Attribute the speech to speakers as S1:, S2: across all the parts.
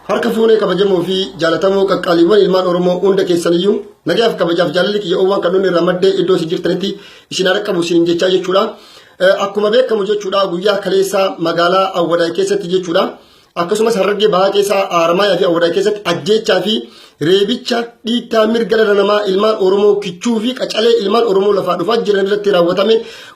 S1: Harka fuunee kabajamoo fi jaalatamoo qaqqaaliiwwan ilmaan Oromoo hunda keessaniyyuu nagayaaf kabajaaf jaalalli kiyya oowwaan kan inni irraa maddee iddoo isin jirtanitti isin haa dhaqqabu isin jechaa jechuudha. Akkuma beekamu jechuudha guyyaa kaleessaa magaalaa Awwadaay keessatti jechuudha. Akkasumas Harargee Bahaa keessaa Haramaayaa fi Awwadaay keessatti ajjeechaa fi reebicha dhiittaa mirga dhala namaa ilmaan Oromoo kichuu fi qacalee ilmaan Oromoo lafaa dhufaa jiran irratti raawwatame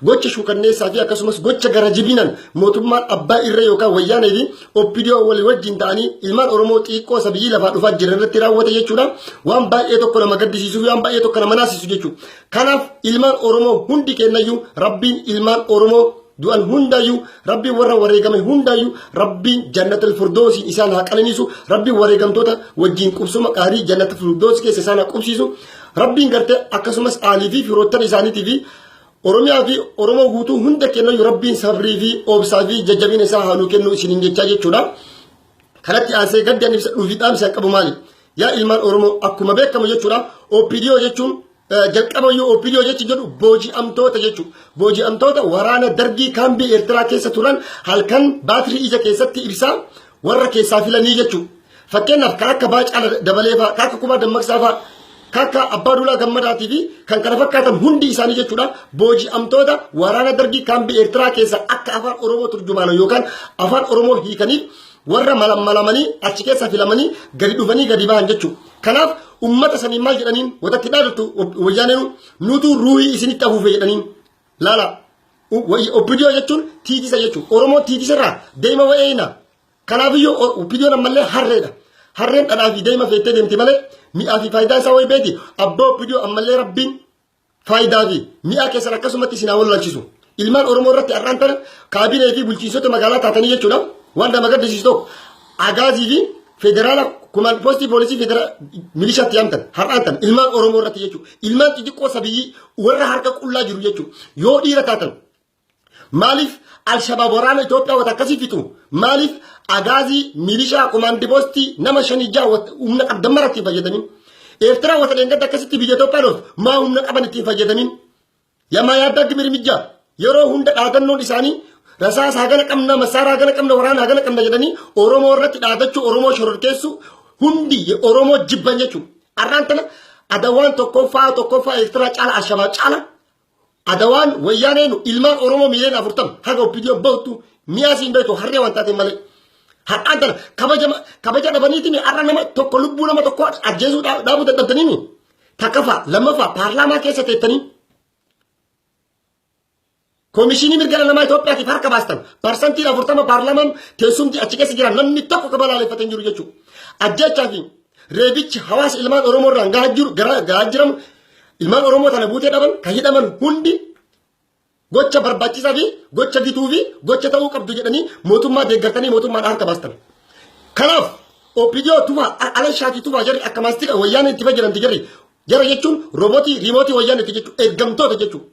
S1: gocha shukanneessaa fi akkasumas gocha gara jibinaan mootummaan abbaa irra yookaan wayyaanee fi oppidiyoo walii wajjin ta'anii ilmaan Oromoo xiiqqoo sabiyyii lafaa dhufaa jiran irratti raawwate jechuudha. Waan baay'ee tokko nama gaddisiisuu fi waan baay'ee tokko nama naasisu jechuudha. Kanaaf ilmaan Oromoo hundi keenyayyuu Rabbiin ilmaan Oromoo du'an hundaayyuu Rabbiin warra wareegame hundaayyuu Rabbiin jannatul firdoosiin isaan haa qananiisu Rabbiin wareegamtoota wajjin qubsuma qaarii jannatul firdoos keessa isaan haa qubsiisu Rabbiin gartee akkasumas aalii fi firoottan isaaniitii fi Oromiyaa fi Oromoo guutuu hunda keenyayyuu Rabbiin sabrii fi obsaa fi jajjabina isaa haa nuu kennu isiniin jechaa jechuudha. Kanatti aansee gaddi ani ibsadhuu fi dhaamsi an qabu maali? Yaa ilmaan Oromoo akkuma beekamu jechuudha OPDO jechuun jalqaba iyyuu OPDO jechi jedhu booji'amtoota jechu. Booji'amtoota waraana dargii kaambii Eertiraa keessa turan halkan baatirii ija keessatti ibsaa warra keessaa filanii jechu. Fakkeenyaaf kan akka baacaa dabalee fa'aa, kan akka kumaa dammaqsaa fa'aa kakka abbaa duulaa gammadaatii fi kan kana fakkaatan hundi isaanii jechuudha booji'amtoota waraana dargii kaambii eertiraa keessa akka afaan oromoo turjumaana yookaan afaan oromoo hiikanii warra malammalamanii achi keessa filamanii gadi dhufanii gadi bahan jechuudha. Kanaaf ummata sanii maal jedhaniin watatti dhaadatu wayyaaneen nutu ruuhii isinitti afuufe jedhaniin laala. Obbidiyoo jechuun tiitisa jechuudha. Oromoo tiitisarraa deema wa'eeyna. Kanaafiyyu OPDOn ammallee harreedha. Harreen dhadhaa fi daa'ima feettee deemti malee mi'aa fi faayidaa isaa wayii beeti. Abbaa OPDO ammallee rabbiin faayidaa fi mi'aa keessan akkasumatti isin haa wallaalchisu. Ilmaan Oromoo irratti har'aan tana kaabinee fi bulchiinsota magaalaa taatanii jechuudha. Waan nama gaddisiisu tokko agaazii fi federaala kumaan poostii poolisii federaala milishaatti yaamtan har'aan tana ilmaan Oromoo irratti jechuudha. Ilmaan xixiqqoo sabiyyii warra harka qullaa jiru jechuudha. Yoo dhiira taatan Maaliif Alshabaab waraana Itoophiyaa wata akkasii fixu? Maaliif agaazii milishaa komaandi poostii nama shanii ja'a wat- humna qabdan mara ittiin fayyadamin? Eertiraa wata dheengadda akkasitti biyya Itoophiyaa loltu maa humna qaban ittiin fayyadamin? Yamaa yaaddaa dimirmijja yeroo hunda dhaadannoon isaanii rasaasa hagana qabna masaaraa hagana qabna waraana hagana qabna jedhanii Oromoo irratti dhaadachuu Oromoo shororkeessuu hundi Oromoo jibban jechuudha. Har'aan tana adawaan tokkoffaa tokkoffaa Eertiraa caala Alshabaab caala Adawaan wayyaaneen ilmaan Oromoo miiliyoon afurtama haga oppidiyoon bahutu mi'aa siin beektu harree waan taate malee. Har'aan tana kabaja kabaja dhabaniitiin har'a nama tokko lubbuu nama tokko ajjeesuu dhaabuu dadhabdaniini. Takkafaa lammaffaa paarlaamaa keessa teettanii Komishinii mirga namaa Itoophiyaatiif harka baastan parsantiin afurtama paarlaamaan teessumti achi keessa jiran namni tokko kabalaaleffate hin jiru jechuudha. Ajjechaa fi Reebichi hawaasa ilmaan Oromoo irraan gahaa jiru gahaa jiramu ilmaan Oromoo tana buutee dhaban kan hidhaman hundi gocha barbaachisaa fi gocha gituu fi gocha ta'uu qabdu jedhanii mootummaa deeggartanii mootummaan harka baastan. Kanaaf OPDO tufaa ala shaatii tufaa jarri akka maastika wayyaanee itti fayyadamti jarri jara jechuun roobotii riimootii wayyaanee itti jechuun ergamtoota jechuun.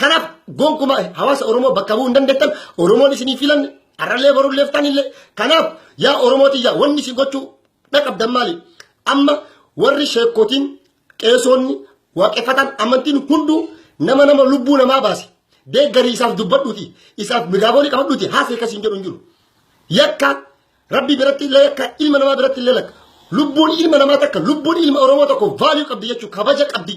S1: Kanaaf gonkuma hawaasa Oromoo bakka bu'uu hin dandeettan Oromoon isinii filanne har'allee borulleeftan illee kanaaf yaa Oromoo tiyyaa wanni isin gochuu Dhaqabdan maali? Amma warri sheekkootiin qeesoonni waaqeffatan amantiin hunduu nama nama lubbuu namaa baase deeggarii isaaf dubbadhuuti isaaf miraaboolii qabadhuuti haasee kasiin jedhu hin jiru. Yakka rabbi biratti illee yakka ilma namaa biratti illee lakka lubbuun ilma namaa takka lubbuun ilma oromoo tokko vaaluu qabdi jechuun kabaja qabdi.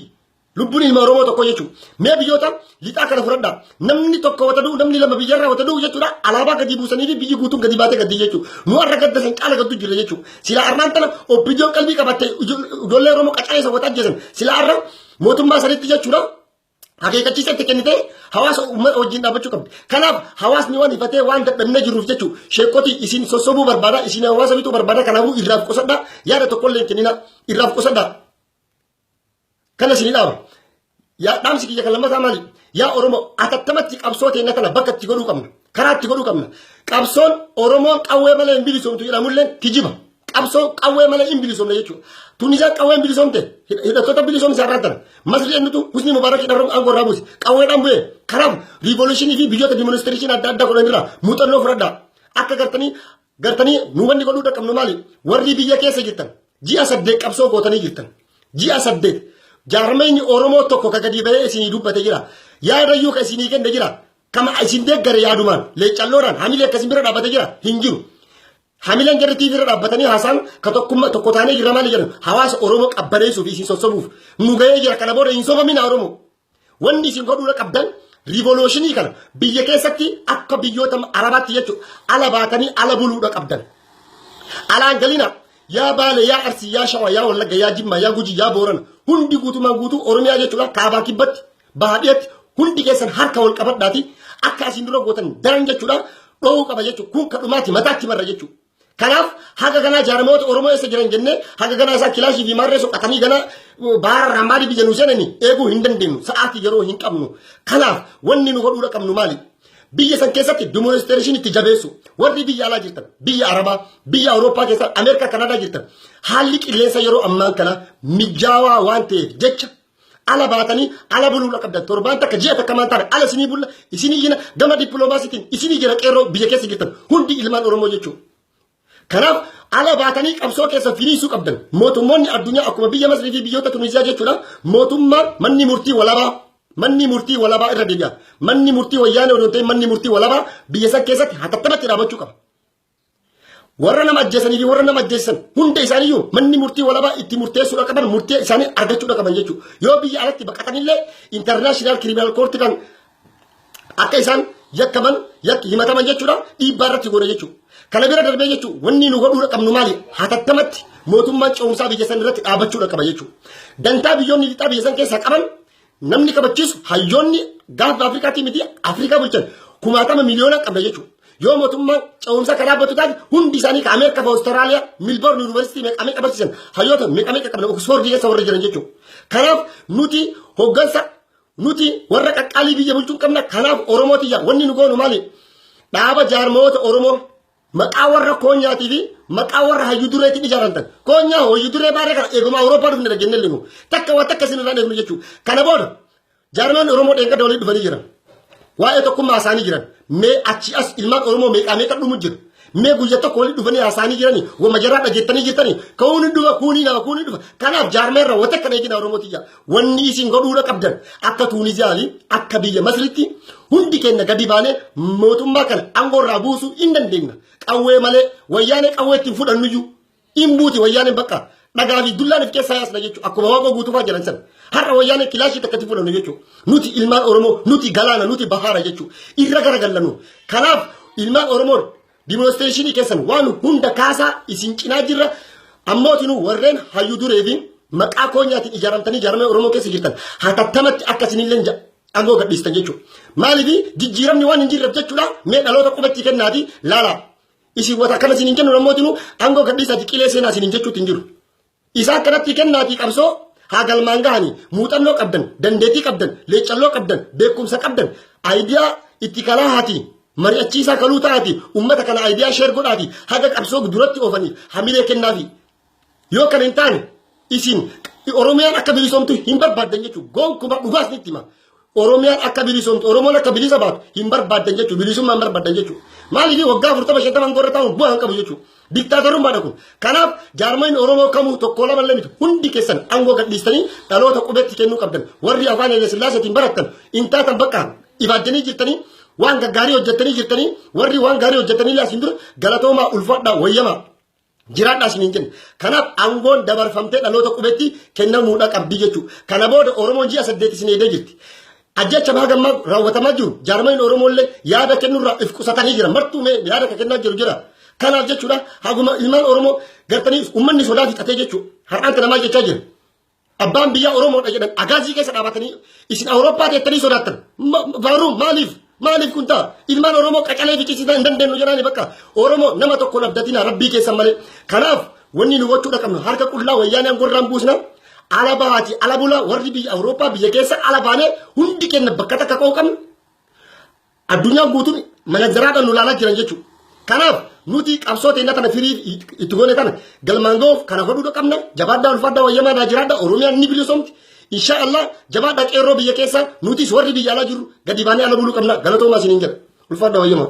S1: Lubbuun ilma Oromoo tokko jechuudha. Mee biyyoota lixaa kana fudhadha. Namni tokko wata du'u, namni lama biyyarraa wata du'u jechuudha. Alaabaa gadi buusanii fi biyyi guutuun gadi baatee gaddi jechuudha. Nu har'a gadda san caala gaddu jirra jechuudha. Sila armaan tana oppiidiyoon qalbii qabattee ijoollee Oromoo qacaree isa wata ajjeesan. Sila har'a mootummaa sanitti jechuudha. Akeekkachiisa itti kennitee hawaasa uummata wajjin dhaabbachuu qabdi. Kanaaf hawaasni waan hifatee waan dadhabnee jiruuf jechuudha. Sheekoti isin sossobuu barbaada, isin hawaasa bituu barbaada. Kanaafuu irraaf qusadhaa yaada tokkollee hin kennina. Irraaf qusadhaa. Kana isin dhaama. Yaa dhaamsi kiyya kan lammataa maali? Yaa Oromoo atattamatti qabsoo teenya kana bakka itti godhuu qabna. Karaa itti godhuu qabna. Qabsoon Oromoon qawwee malee hin bilisoomtu jedhamullee kijiba. Qabsoo qawwee malee hin bilisoomne jechuudha. Tunisaan qawween bilisoomte hidhattoota bilisoomsa irraa tana. Masri eenyutu Husni Mubaarak hidharra aangoo irraa buuse. Qawweedhaan bu'e. Kanaaf riivoluushinii fi biyyoota dimonistirichin adda addaa godhan irraa muuxannoo fudhadhaa. Akka gartanii Gartanii nu wanni godhuu dhaqqabnu maali? Warri biyya keessa jirtan ji'a saddeet qabsoo gootanii jirtan. Ji'a saddeet jaarmeenyi Oromoo tokko ka gadi bahee isinii dubbate jira. Yaada iyyuu ka isinii kenne jira. Kama isin deeggare yaadumaan leeccalloodhaan hamilee akka isin bira dhaabbate jira hin jiru. Hamileen jarri TV irra dhaabbatanii haasaan ka tokkummaa tokko taanee jirra maali jedhan hawaasa Oromoo qabbaneessuuf isin sossobuuf nu gahee jira kana booda hin sobaminaa Oromoo. Wanni isin godhuudha qabdan riivolooshini kana biyya keessatti akka biyyoota arabaatti jechuudha ala baatanii ala buluudha qabdan. Alaan galina yaa baale yaa arsii yaa shawaa yaa wallagga yaa jimmaa yaa gujii yaa boorana hundi guutumaan guutuu oromiyaa jechuudha kaabaa kibbatti bahaa dhiyatti hundi keessan harka wal qabadhaati akka asiin dura gootan daran jechuudha dhoowuu qaba jechuudha kun kadhumaati mataatti marra jechuudha. Kanaaf haga ganaa jaaramoota Oromoo eessa jiran jennee haga ganaa isaa kilaashii fi maarree soqatanii ganaa baara irraa maaliif biyya nu seenanii eeguu hin dandeenyu sa'aatii yeroo hin qabnu. Kanaaf wanni nu godhuu qabnu maali? Biyya san keessatti dimoonistirashinii itti jabeessu warri biyya alaa jirtan biyya Arabaa biyya Awurooppaa keessa Ameerikaa Kanaadaa jirtan haalli qilleensa yeroo ammaan kana mijaawaa waan ta'eef jecha ala baatanii ala buluudha qabdan torbaan takka ji'a takka maan taane ala isinii bulla isinii jina gama dippiloomaasiitiin isinii jira qeerroo biyya keessa jirtan hundi ilmaan oromoo jechuudha. Kanaaf ala baatanii qabsoo keessa firiisuu qabdan mootummoonni addunyaa akkuma biyya Masrii fi biyyoota Tuniziyaa jechuudha mootummaa manni murtii walabaa manni murtii walabaa irra deebi'a manni murtii wayyaanee odoo ta'e manni murtii walabaa biyya san keessatti hatattaatti dhaabachuu qaba. warra nama ajjeesanii fi warra nama ajjeessan hunda isaaniiyyuu manni murtii walabaa itti murteessuudha qaban murtee isaanii argachuudha qaban jechuudha. Yoo biyya alatti baqatanillee intarnaashinaal kiriminaal koortii kan akka isaan yakkaman yakki himataman jechuudha dhiibbaa irratti goona jechuudha. Kana bira darbee jechuudha wanni nu godhuudha qabnu maali hatattamatti mootummaan ce'umsaa biyya san irratti dhaabachuudha qaba jechuudha. Dantaa biyyoonni lixaa biyya san keessaa qaban Namni kabachiisu hayyoonni gaafa Afrikaatii miti Afrikaa bulchan kumaatama miliyoona qabna jechuudha. Yoo mootummaan ce'umsa karaa batu taate hundi isaanii ka Ameerikaa fi Awustiraaliyaa Milboorn Yuunivarsiitii meeqa meeqa barsiisan hayyoota meeqa meeqa qabna Oksfoordi keessa warra jiran jechuudha. Kanaaf nuti hoggansa nuti warra qaqqaalii biyya bulchuun qabna kanaaf Oromoo tiyya wanni nu goonu maali? Dhaaba jaarmayoota Oromoo Maqaa warra koonyaatii fi maqaa warra hayyu dureetiin ijaaramtan. Koonyaa hayyu duree baaree kana eeguma Awurooppaa dhufne dha jennee linu. Takka waan takka isin irraa eegnu jechuudha. Kana booda jaarmaan Oromoo dheengadda walii dhufanii jiran. Waa'ee tokkummaa isaanii jiran. Mee achi as ilmaan Oromoo meeqaa meeqa dhumu jira. Mee guyya tokko walii dhufanii haasa'anii jiranii wama jaraa dhageettanii jirtanii ka'uun hin dhufa kuunii nama kuunii dhufa. Kanaaf jaarmeerra wata kan eegina Oromoo tiyya. Wanni isin godhuudha qabdan akka Tuuniziyaali akka biyya Masritti hundi keenya gadi baanee mootummaa kana aangoo irraa buusuu hin dandeenya. Qawwee malee wayyaanee qawwee ittiin fudhannuyyuu hin buuti wayyaaneen bakka dhagaa fi dullaan if keessaa yaasna jechuudha. Akkuma waaqoo guutuufaa jiran sana. Har'a wayyaanee kilaashii takkatti fudhannu jechuudha. Nuti ilmaan Oromoo nuti galaana nuti bahaara jechuudha. Irra garagallannu. Kanaaf ilmaan Oromoo Dimoonistreeshinii keessan waan hunda kaasaa isin cinaa jirra. Ammootinuu warreen hayyuu duree fi maqaa koonyaatiin ijaaramtanii ijaaramee Oromoo keessa jirtan hatattamatti akka isinillee ja- aangoo gadhiistan jechuudha. Maaliif jijjiiramni waan hin jirreef jechuudha mee dhaloota qubatti kennaatii laalaa. Isin wata akkana isin hin kennu ammootinuu aangoo gadhiisaati qilee seenaa isin hin jechuutti hin jiru. Isa akkanatti kennaatii qabsoo haa galmaan gahanii muuxannoo qabdan, dandeetii qabdan, leeccalloo qabdan, beekumsa qabdan, ayidiyaa itti kalaa haatii mari'achiisaa kaluu ta'aati ummata kana ayidiyaa sheer godhaati haga qabsoo duratti oofaniif hamilee kennaafi. Yoo kan hin taane isin Oromiyaan akka bilisoomtu hin barbaaddan jechuudha. Gonkumaa dhugaas ni itti hima. Oromiyaan akka bilisoomtu, Oromoon akka bilisa baatu hin barbaaddan jechuudha. Bilisummaa hin barbaaddan jechuudha. Maaliif waggaa afurtama shantama gorra taa'uun bu'aa hin qabu jechuudha. Diktaatorummaadha kun. Kanaaf jaarmayni Oromoo kamuu tokko lama lamiti hundi keessan aangoo gadhiistanii dhaloota qubeetti kennuu qabdan. Warri afaan Haile Sillaaseetiin barattan hin taatan bakka ibaajjanii jirtanii waan gaggaarii hojjettanii jirtanii warri waan gaarii hojjettanii laasiin dura galatoomaa ulfaadhaa wayyamaa. Jiraadhaa isiniin jenna. Kanaaf aangoon dabarfamtee dhaloota qubetti kennamuudha qabdi jechuudha. Kana booda Oromoon ji'a saddeet isin eegdee jirti. Ajjecha baha gammaa raawwatamaa jiru jaarmayni Oromoo illee yaada kennurraa if qusatanii jira. Martuu mee yaada akka kennaa jiru jira. Kanaaf jechuudha haguma ilmaan Oromoo gartanii uummanni sodaa fixatee jechuudha. Har'aan kana maal jechaa jiru? Abbaan biyyaa Oromoodha jedhan agaazii keessa dhaabatanii isin Awurooppaa teettanii sodaattan. Baaruu maaliif? Maaliif kun ta'a? Ilmaan Oromoo qacalee fichisiisaa hin dandeenyu jedhaani bakka Oromoo nama tokko labdatina rabbii keessan malee. Kanaaf wanni nu gochuudha qabnu harka qullaa wayyaanee angorraan buusna. Ala bahaati ala bulaa warri biyya Awurooppaa biyya keessa ala baanee hundi kenna bakka takka qooqamnu. Addunyaan guutuun manajaraadhaan nu ilaalaa jiran jechuudha. Kanaaf nuti qabsoo teenya kana firii itti goone kana galmaan ga'uuf kana godhuu qabna. Jabaadhaa ulfaadhaa wayyamaa naa jiraadhaa Oromiyaan ni bilisoomti. Insha Allah jabaadhaa qeerroo biyya keessaa nutis warri biyya alaa jirru gadi baanee ala buluu qabna. Galatoomaa isiniin jedha. Ulfaadhaa wayyamaa.